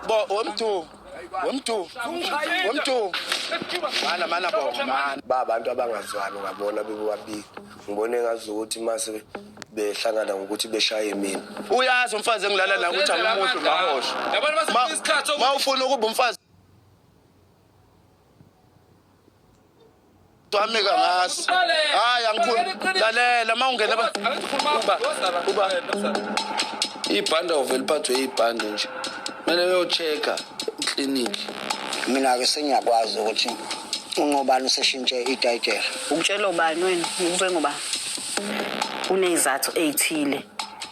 Bo wemdu. Wemdu. Wemdu. Mana mana bo mana. Ba abantu abangazwani ngabona bebobabili. Ngibone ngazi ukuthi mase behlangana ngokuthi beshaye mina. Uyazi umfazi engilala naye ukuthi angimuhle ngahosha. Yabantu basifuna isikhathi Ma ufuna ukuba umfazi Twami kangazi. Hayi angikhulu. Lalela uma ungena ba. Uba. Ibhanda uvela iphathwe ibhanda nje. Kumele uyocheka clinic. Mina ke sengiyakwazi ukuthi ungobani useshintshe itayitela. Ukutshela ubani wena ngikube ngoba unezathu ezithile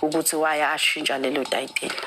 ukuthi waya ashintsha lelo tayitela.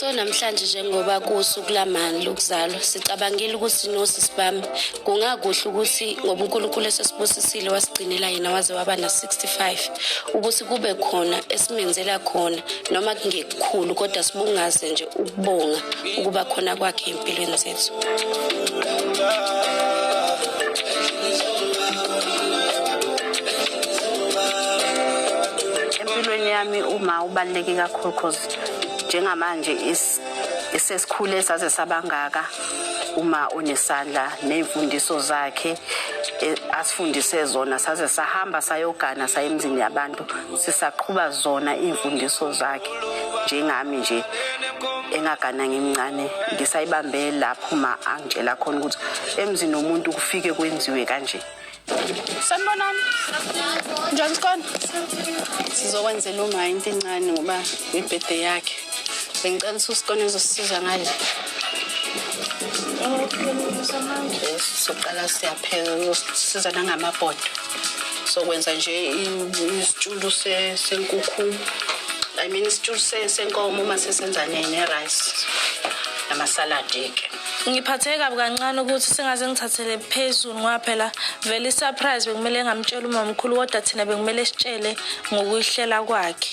so namhlanje njengoba kusuku lamani lokuzalwa sicabangile ukuthi nosisi bami kungakuhle ukuthi ngoba unkulunkulu esesibusisile wasigcinela yena waze waba na-65 ukuthi kube khona esimenzela khona noma kunge khulu kodwa sibungaze nje ukubonga ukuba khona kwakhe empilweni zethu empilweni yami uma ubaluleke kakhulu cause njengamanje isesikhule saze sabangaka uma unesandla nezimfundiso zakhe e, asifundise zona saze sahamba sayogana sayemzini yabantu sisaqhuba zona iy'mfundiso zakhe njengami nje engagana ngimncane ngisayibambe lapho ma angitshela khona ukuthi emzini womuntu kufike kwenziwe kanje sanibonani njani sikhona sizokwenzela uma into incane ngoba ibhede yakhe Bengicela ususikone uzosisiza ngale. Soqala siyaphela uzosisiza nangamabhodo. Sokwenza nje isitshulu senkukhu. I mean isitshulu senkomo uma sesenza ne-rice namasaladi-ke. ngiphatheke kabi kancane ukuthi sengaze ngithathele phezulu ngoba phela vele i-surprise bekumele ngamtshela umamkhulu kodwa thina bekumele sitshele ngokuyihlela kwakhe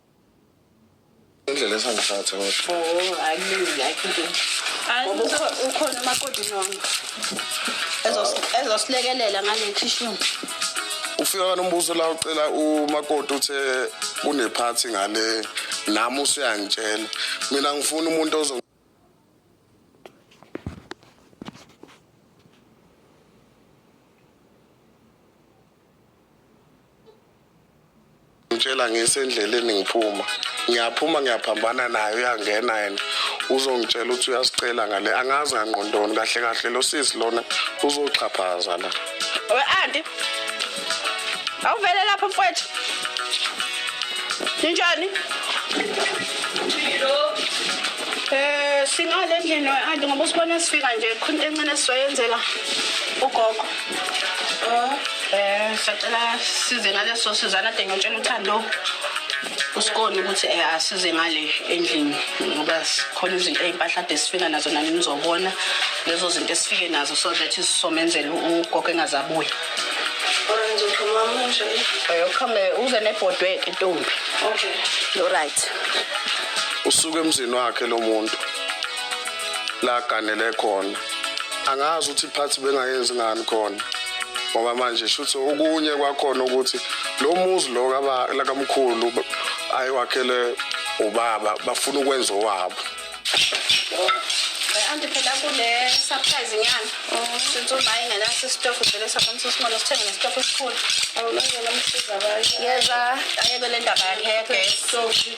indlela esangiphatha kodwa oh hayi ayikho into ukhona umakoti nonke ezosilekelela ngale khishini ufika kanombuso la ucela umakoti uthe kunephathi ngale nami usuyangitshela mina ngifuna umuntu ozo ngitshela ngisendleleni ngiphuma ngiyaphuma ngiyaphambana naye uyangena yena uzongitshela ukuthi uyasicela ngale angazi ngangqondoni kahle kahle lo sisi lona uzoxhaphaza la We anti. Awuvele lapha mfowethu. Ninjani? Eh singale endlini we anti ngoba usibona sifika nje khona encane sizoyenzela ugogo. Eh sacela size ngaleso sizana de ngiyotshela uthando. kusikoni ukuthi eh, asize ngale endlini ngoba sikhona izinto ey'mpahla ade sifika nazo nani nizobona lezo zinto esifike nazo so that sizomenzela ugogo engazabuya yokuhambe eh, uze nebhodweke ntombi okay right usuke emzini wakhe lo muntu la ganele khona angazi ukuthi iphathi bengayenzi ngani khona ngoba manje shuthi okunye kwakhona ukuthi lo muzi lo lakamkhulu ayiwakhele ubaba bafuna ukwenza owabo anti phela kule surprise nyana since uba ingenaso isitofu vele sakwanisa usimona sithenge nesitofu esikhulu yeza ayebe le ndaba yakhe yegesi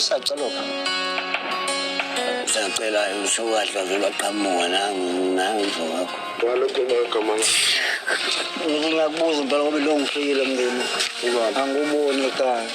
usacaloka sacela usukahle vele aqhamuka nangizo wakho walokho magama ngiyakubuza impela ngoba lo ngifikile mndeni angikuboni ekhaya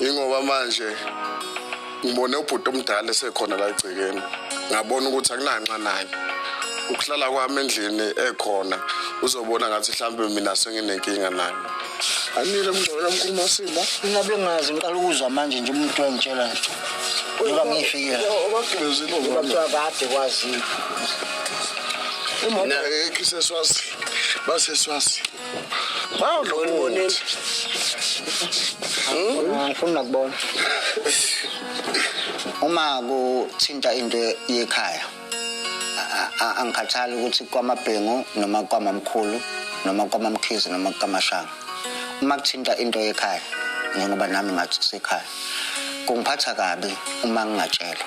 Ingoba manje ngibone ubhuti omdala esekhona la egcekeni. Ngabona ukuthi akunanxa naye. Ukuhlala kwami endlini ekhona uzobona ngathi mhlambe mina senginenkinga naye. Anile mngcwele mkhulu Masimba. Ngabe ngazi ngiqala ukuzwa manje nje umuntu wangitshela nje. Ngoba ngifikile. Ubagqilezile Ngoba kuthiwa kade kwazile. Uma ekhise swazi. Base swazi. Wow, Ngibona umuntu. ngifuna nakubona uma kuthinta into yekhaya a- a- angikhathali ukuthi kwamabhengu noma kwamamkhulu noma kwamamkhizi noma kwamashanga uma kuthinta into yekhaya njengoba nami ngathi kusekhaya kungiphatha kabi uma ngingatshelwa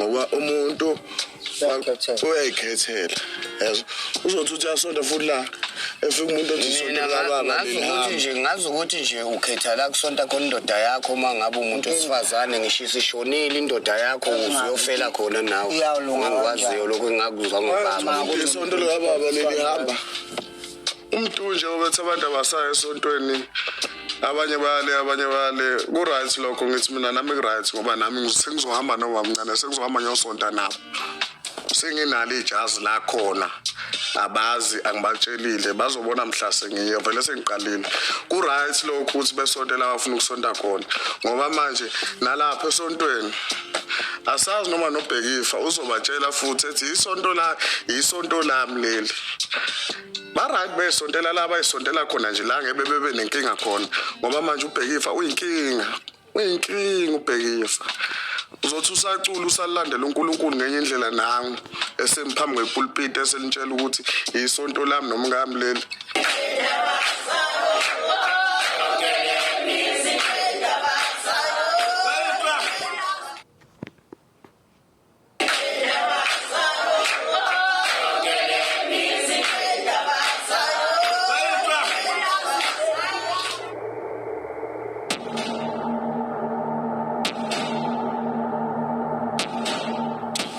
ngoba umuntu uyayikhethela yazi uzothi uthi asonda futhi la efika umuntu othi sonda lababa ngazi ukuthi nje ngazi ukuthi nje ukhetha la kusonta khona indoda yakho uma ngabe umuntu wesifazane ngisho isishonile indoda yakho uzuyofela khona nawe ngikwaziyo lokho engakuzwa ngobaba isonto likababa lelihamba umntu nje obethi abantu abasayo esontweni abanye bale abanye bale ku-right lokho ngithi mina nami ku-right ngoba nami sengizohamba nobamncane sengizohamba ngiyosonta nabo senginalo ijazi lakhona abazi angibatshelile bazobona mhla sengiye vele sengiqalile ku-right lokho ukuthi besontela abafuna ukusonta khona ngoba manje nalapha esontweni asazi noma nobhekifa uzobatshela futhi ethi isonto la isonto lami leli ba-right besontela la bayisontela khona nje la ngebe bebe nenkinga khona ngoba manje ubhekifa uyinkinga uyinkinga ubhekifa uzothi usacula usalandela uNkulunkulu ngenye indlela nangu esemphambi kwepulpiti eselintshela ukuthi isonto lami nomkami leli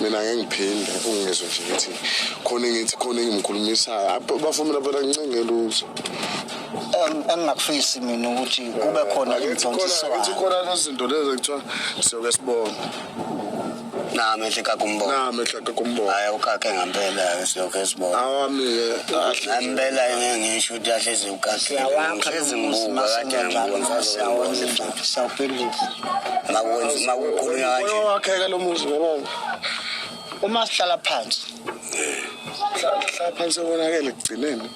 mina ngeke ngiphinde ungizwe nje ukuthi khona engithi khona engimkhulumisayo abafumela phela ngincenge lutho engingakufisi mina ukuthi kube khona izintsontsiswano khona lezinto lezi ekuthiwa siyoke sibone nami ehlika kumbona nami ehlika kumbona hayi ukake ngampela ke siyoke sibona awami ke ngampela ke ngisho ukuthi ahlezi ukake ngishezi ngibuka kade ngibona sawuphendula makukhulunywa kanje wakhe ke lo muzi ngibona uma sihlala phansi sihlala phansi konakele ekugcineni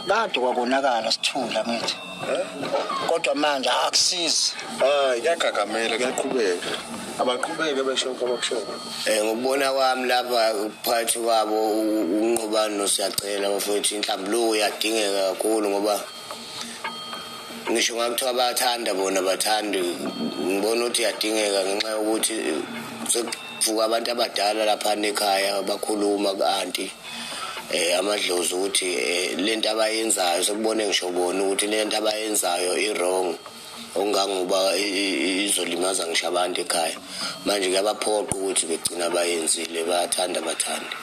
kade kwakonakala sithula ngithi kodwa manje akusizi hayi kuyagagamela kuyaqhubeka abaqhubeke besho kwabakushoyo um eh, ngokubona kwami lapha uphathi wabo unqobani nosiyacela bafowethu inhlambuluko iyadingeka kakhulu ngoba ngisho ngakuthiwa bayathanda bona bathandi ngibona ukuthi iyadingeka ngenxa yokuthi Vuka abantu abadala lapha nekhaya bakhuluma ku-anti um eh, amadlozi ukuthi eh, le nto abayenzayo sekubone ngisho bona ukuthi le nto abayenzayo i-wrong okungangoba izolimaza ngisho abantu ekhaya manje kuyabaphoqa ukuthi begcina bayenzile bayathanda bathande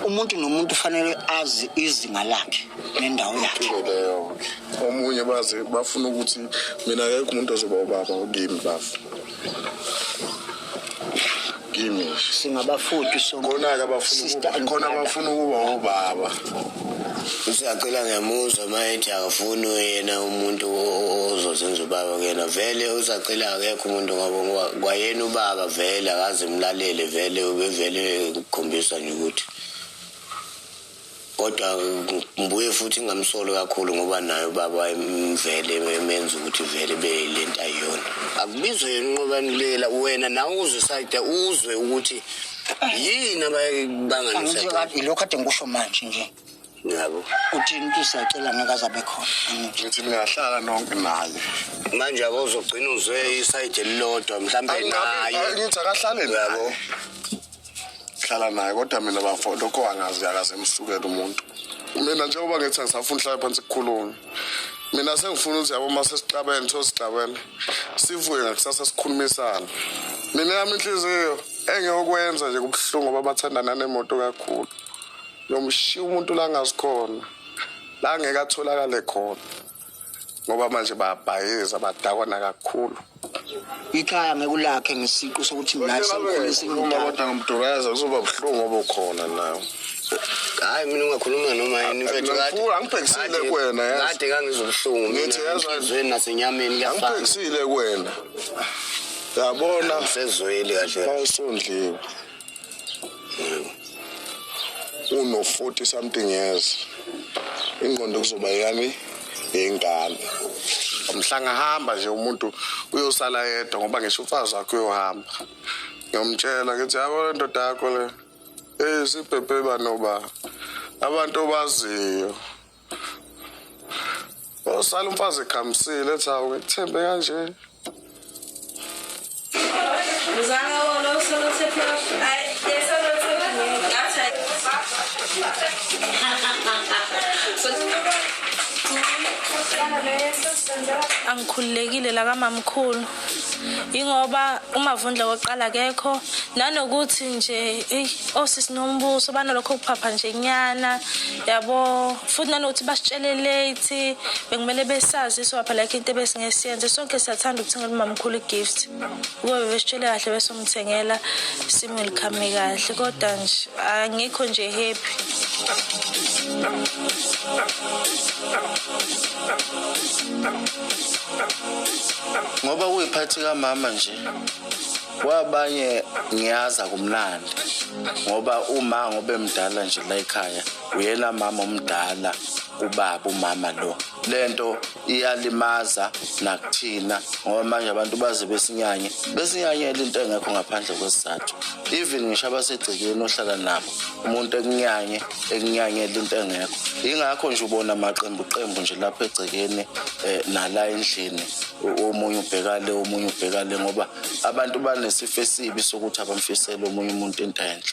umuntu nomuntu ufanele azi izinga lakhe nendawo yakhe omunye baze bafuna ukuthi mina akekho umuntu ozoba ubaba okimi bafa kimi nje singabafudu so khona-ke abafuna Sister ukuba- and khona brother. abafuna ukuba obaba usacela ngiyamuzwa uma ethi akafuni yena umuntu o- o- ozozenza ubaba kuyena vele usacela akekho umuntu ngoba ngoba kwayena ubaba vele akaze mlalele vele ubevele kukhombisa nje ukuthi kodwa ngibuye futhi ngingamsoli kakhulu ngoba naye ubaba wayemvele emenza ukuthi vele be le nto ayiyona akubizwe yena unqobanulela wena nawe uzwe sayide uzwe ukuthi yini ababanganisakade lokhu ade ngikusho manje nje yabo uthini ukuthi siyacela ngeke azabe khona ngithi niyahlala nonke naye manje abo uzogcina uzwe isayide elilodwa mhlawumbe naye ngithi akahlale yabo hlala naye kodwa mina bafo lokho angazi yakaze emsukele umuntu mina njengoba ngithi angisafuni hlala phansi kukhulume mina sengifuna ukuthi yabo uma sesixabene tho sixabene sivuye ngakusasa sikhulumisane mina yami inhliziyo engiyokwenza nje kubuhlungu ngoba bathandana nemoto kakhulu yomshiya umuntu la ngazikhona la ngeke atholakale khona ngoba manje bayabhayiza badakwana kakhulu ikhaya ngekulakhe ngesiqu sokuthi mina sengikhulise kodwa ngimduraza kuzoba buhlungu obukhona nawe hayi mina ungakhuluma noma yini mfethu kade angibhekisile kuwena yazi kade kangizobuhlungu mina ezweni nasenyameni kuyafana angibhekisile kuwena yabona sezweli kahle awusondliwe uno 40 something years ingqondo kuzoba yani yengane mhlanga hamba nje umuntu uyosala yedwa ngoba ngisho umfazi wakhe uyohamba ngiyomtshela ngithi yabo le ndoda yakho le eyisibhebheba noba abantu obaziyo Osala umfazi ekhamisile ethi hawu ngikuthembe kanje. Uzanga wona usolo sephi ay yesolo sephi ngathi ay. Angikhululekile la kamamkhulu. yingoba umavundla wokuqala kekho nanokuthi nje osisi nombuso banalokho kuphapha nje nyana yabo futhi nanokuthi basitshele late bekumele besazi so phela ke into ebesingesiyenze sonke siyathanda ukuthengela umamkhulu igift kube besitshele kahle bese umthengela simwelcome kahle kodwa nje angikho nje happy ngoba kuyiphathi kamama nje kwabanye ngiyaza kumlandi ngoba uma ngobe mdala nje la ekhaya uyena mama omdala ubaba umama lo lento iyalimaza nakuthina ngoba manje abantu baze besinyanye besinyanyela into engekho ngaphandle kwesizathu even ngisho abasegcekeni ohlala nabo umuntu ekunyanye ekunyanyela into engekho yingakho nje ubona amaqembu qembu nje lapha egcekeni eh, nala endlini omunye ubhekale omunye ubhekale ngoba abantu banesifo esibi sokuthi abamfisele omunye umuntu into enhle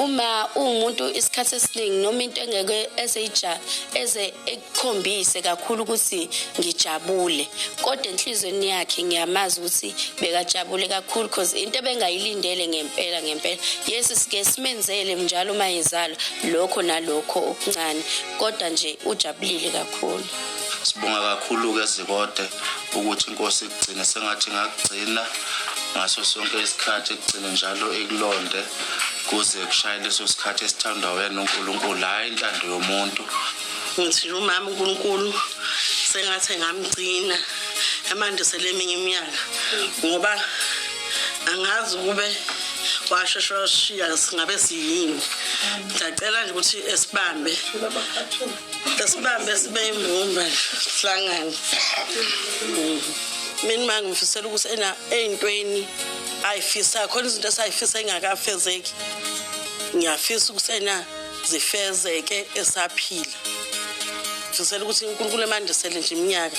uma uwumuntu isikhathi esiningi noma into engeke ezeyija eze ekukhombise kakhulu ukuthi ngijabule kodwa enhlizweni yakhe ngiyamazi ukuthi bekajabule kakhulu because into ebengayilindele ngempela ngempela yes sike simenzele njalo uma ezalwa lokho nalokho okuncane kodwa nje ujabulile kakhulu Sibonga kakhulu-ke Zikode ukuthi inkosi ikugcine sengathi ngakugcina ngaso sonke isikhathi ekugcine njalo ikulonde kuze kushaye leso sikhathi esithandwa wena uNkulunkulu hhayi intando yomuntu ngithi umama uNkulunkulu sengathi engamgcina emandisele eminye iminyaka ngoba angazi ukube washesha washiya singabe siyini ngiyacela nje ukuthi esibambe Esibambe sibe imbumba sihlangane. Mm. Mina manje ngifisela ukuthi ena eyintweni ayifisa khona izinto esayifisa engakafezeki. Ngiyafisa ukuthi ena zifezeke esaphila. Ngifisela ukuthi uNkulunkulu emandisele nje iminyaka.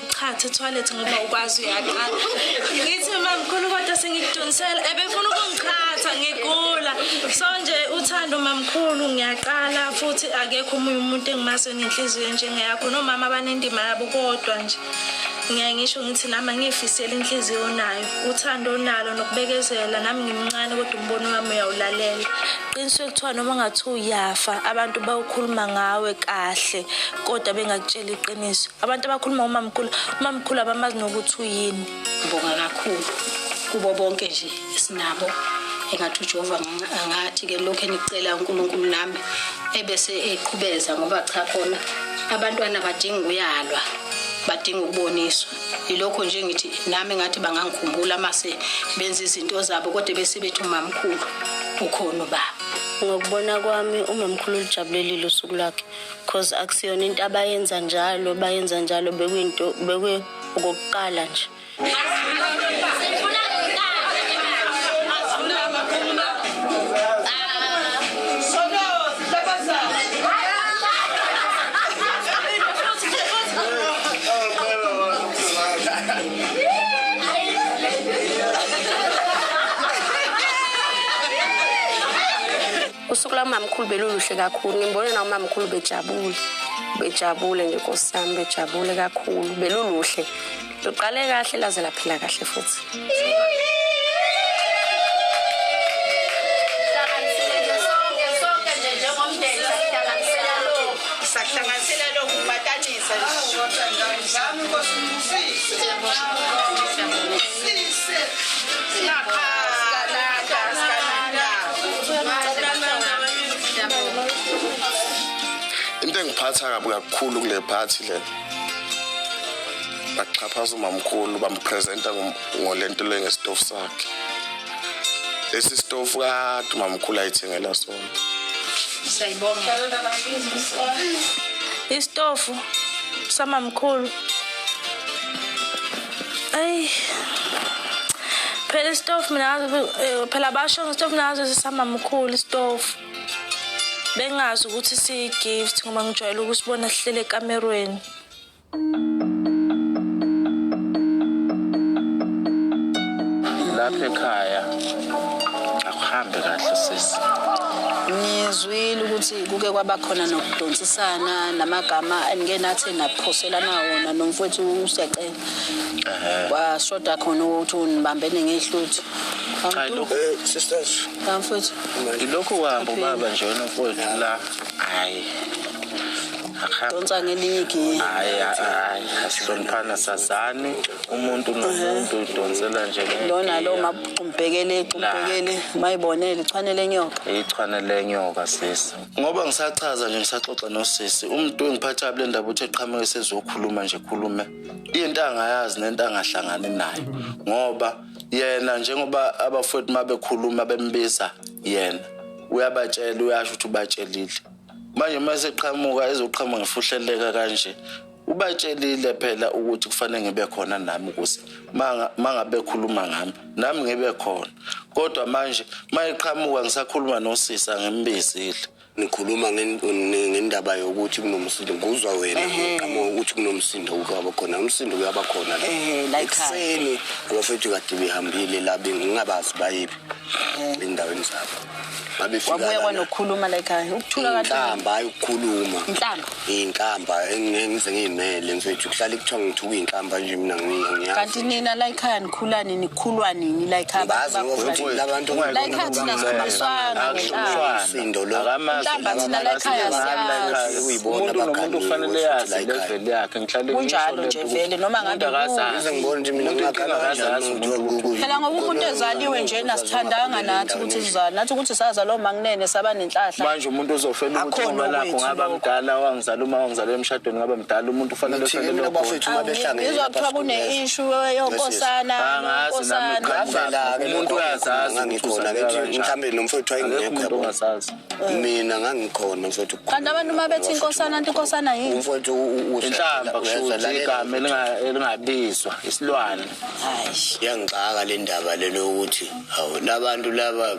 Chatha toilet ngoba ukwazi uyaqa. Ngithi mama mkhulu kodwa sengikudonsela ebefuna ukungichatha ngigula. So nje uthando mamkhulu ngiyaqala futhi akekho omunye umuntu engimazi onenhliziyo njengeyakho nomama abanendima yabo kodwa nje ngiyaye ngisho ngithi nami angiyifiseli inhliziyo onayo uthando onalo nokubekezela nami ngimncane kodwa umbono wami uyawulalela qiniswe kuthiwa noma ungathiwa uyafa abantu bawukhuluma ngawe kahle kodwa bengakutshela iqiniso abantu abakhuluma umamkhulu umamkhulu abamazi nokuthi uyini ngibonga kakhulu kubo bonke nje esinabo engathi ujehova angathi ke lokhu enicela unkulunkulu nami ebese eqhubeza ngoba cha khona abantwana badinga ukuyalwa badinga ukuboniswa yilokho nje ngithi nami ngathi bangangikhumbula mase benza izinto zabo kodwa bese bethi umamkhulu ukhona ubaba ngokubona kwami umamkhulu lijabulelile usuku lwakhe Cause akusiyona into abayenza njalo bayenza njalo bekuyinto bekwe okokuqala nje. usuku lwamamkhulu beluluhle kakhulu ngimbone na umamkhulu bejabule bejabule nje nkosi yami bejabule kakhulu beluluhle luqale kahle laze laphila kahle futhi sahlanganisela lokhu kubatanisa into engiphatha kabi kakhulu kule phathi le baxhaphaza umamkhulu bampresenta ngolento le ngesitofu sakhe lesi sitofu kade umamkhulu ayithengela sona siyayibonga isitofu samamkhulu Ay. Phela istofu mina eh, phela basho ngestofu nazo sisama mkhulu istofu. Bengazi ukuthi siyi gift ngoba ngijwayele ukusibona sihlele ekamerweni. Lapha ekhaya akuhambe kahle sisi. Ngizwile ukuthi kuke kwaba khona nokudonsisana namagama engenathi naphoselana wona nomfowethu usecela kwashoda khona ukuthi unibambene ngehluthu eh, sisters mfowethu ilokhu uhamba ubaba nje wena mfowethu la hayi donsa ngelinye igiye hayi hayi asihloniphana sazani umuntu nomuntu udonsela nje lona lo mabumbhekele umbhekele mayibonele ichwane lenyoka ichwane lenyoka sisi ngoba ngisachaza nje ngisaxoxa nosisi umuntu engiphatha kule ndaba uthi eqhamuke sezokhuluma nje khulume into angayazi nento angahlangani nayo ngoba yena njengoba abafowethu uma bekhuluma bembiza yena uyabatshela uyasho ukuthi ubatshelile manje uma eseqhamuka ezoqhamuka ngifuhleleka kanje ubatshelile phela ukuthi kufanele ngibe khona nami ukuthi mangabe khuluma ngami nami ngibe khona kodwa manje mayiqhamuka ngisakhuluma nosisi angimbizile nikhuluma ngendaba yokuthi kunomsindo nguzwa wena qhamuka ukuthi kunomsindo ukaba khona umsindo uyaba khona la ekuseni abafethu kade behambile la bengingabazi bayiphi endaweni zabo kwabuya kwanokukhuluma la ekhaya ukuthula kanhlamba hayi ukukhuluma inhlamba inhlamba engize ngiyimele mfethu kuhlala kuthiwa ngithuka inhlamba nje mina ngiyazi kanti nina la ekhaya nikhulani nikhulwa nini la ekhaya bazi ukuthi labantu la ekhaya thina sibiswana ngesindo lo inhlamba thina la ekhaya siyazi uyibona bakhantu kufanele yazi level yakhe ngihlale kunjalo nje vele noma ngabe ngibona nje mina ngakhala phela ngoba umuntu ezaliwe nje nasithandanga nathi ukuthi sizali nathi ukuthi sazalwa umanginene saba nenhlahla manje umuntu uzohlola ukuthi uma lakho ngaba mdala wangizala uma wangizala emshadweni ngaba mdala umuntu ufanele uhlelele bafethu uma behlangene ngizwa kuthiwa kune issue yonkosana unkosana umuntu uyazazi ngikhona ngithi mhlambe nomfowethu ayengekho yabo mina ngangikhona mfowethu kanti abantu uma bethi inkosana anti inkosana yini mfowethu inhlamba kushuthi igama elingabizwa isilwane yangixaka le ndaba le lokuthi hawu labantu laba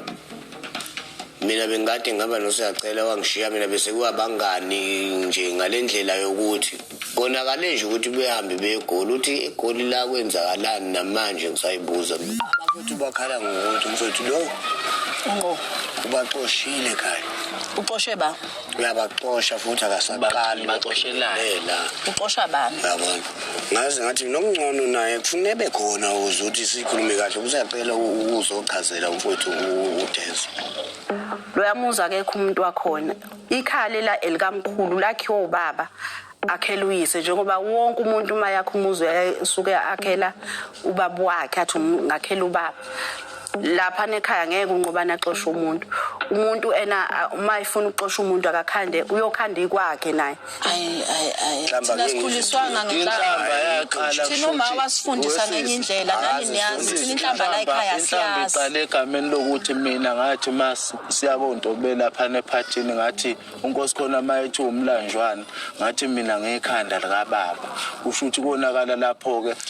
mina bengikade ngihamba nosiyacela wangishiya mina bese kuwabangani nje ngale ndlela yokuthi Konakale nje ukuthi behambe begoli uthi egoli la kwenzakalani namanje ngisayibuza abakuthi bakhala ngokuthi mfowethu lo unqo ubaxoshile kanye uxoshe ba uyabaxosha futhi akasaqali baxoshelane la uxosha bani yabona ngaze ngathi nokungcono naye kufuneka bekhona uze ukuthi sikhulume kahle usacela ukuzochazela umfowethu udezo loyamuza akekho umuntu wakhona Ikhale la elikamkhulu lakhiwa ubaba akhela uyise njengoba wonke umuntu uma yakhe umuzi usuke akhela ubaba wakhe athi um, ngakhela ubaba lapha nekhaya ngeke unqobana axoshe umuntu umuntu ena uma efuna ukuxosha umuntu akakhande uyokhanda ikwakhe naye Ayi ayi ayi. Inhlamba Thina ke sikhuliswanga yini? Inhlamba ngenhlamba. yaqala Thina uma kushuthi wasifundisa ngenye wesisi. indlela nani niyazi thina inhlamba la ekhaya Inhlamba siyazi. iqale egameni lokuthi mina ngathi uma si- siya koNtobe laphana ephathini ngathi unkosi khona uma ethi umlanjwana ngathi mina ngekhanda likababa kusho ukuthi konakala lapho-ke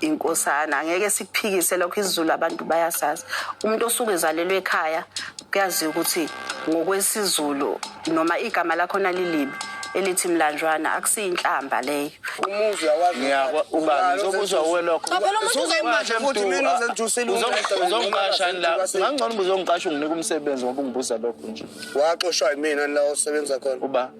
inkosana angeke sikuphikise lokho isizulu abantu bayasazi umuntu osuke ezalelwe ekhaya kuyaziwa ukuthi ngokwesizulu noma igama lakhona lilibi elithi mlanjwana akusiyinhlamba leyo umuzi Ngiyakwa- uba ngizokuzwa uwe lokho Ngaphela umuntu uzomanje futhi mina ozengithusile uzongiqashani la ngangcono uba uzongiqasha unginike umsebenzi ngoba ungibuza lokho nje waxoshwa yimina la osebenza khona uba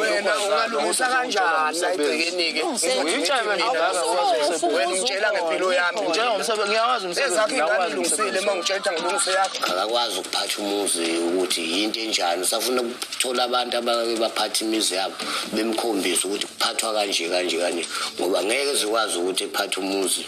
wena ungalungisa kanjani la egcekeni-ke wena ngitshela ngempilo yami ngiyawazi umsebenzi ingane ilungisile uma ngitshela ukuthi ngilungise yakho akakwazi ukuphatha umuzi ukuthi yinto enjani usafuna ukuthola abantu abake baphatha imizi yabo bemkhombise ukuthi kuphathwa kanje kanje kanje ngoba ngeke zikwazi ukuthi ephathe umuzi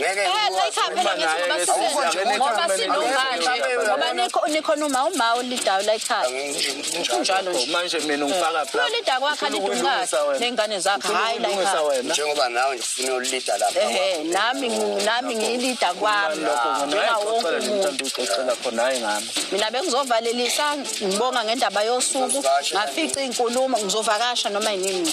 ngeke ngoba sinomanje nikhona uma uma ulidayo la ekhaya kunjalo nje manje mina ngifaka plan ulida kwakhe alidungathi nengane zakhe hayi la ekhaya njengoba nawe ngifuna ulida lapha eh nami nami ngilida kwami lokho njenga wonke umuntu ucela khona hayi ngami mina bengizovalelisa ngibonga ngendaba yosuku ngafica inkulumo ngizovakasha noma yini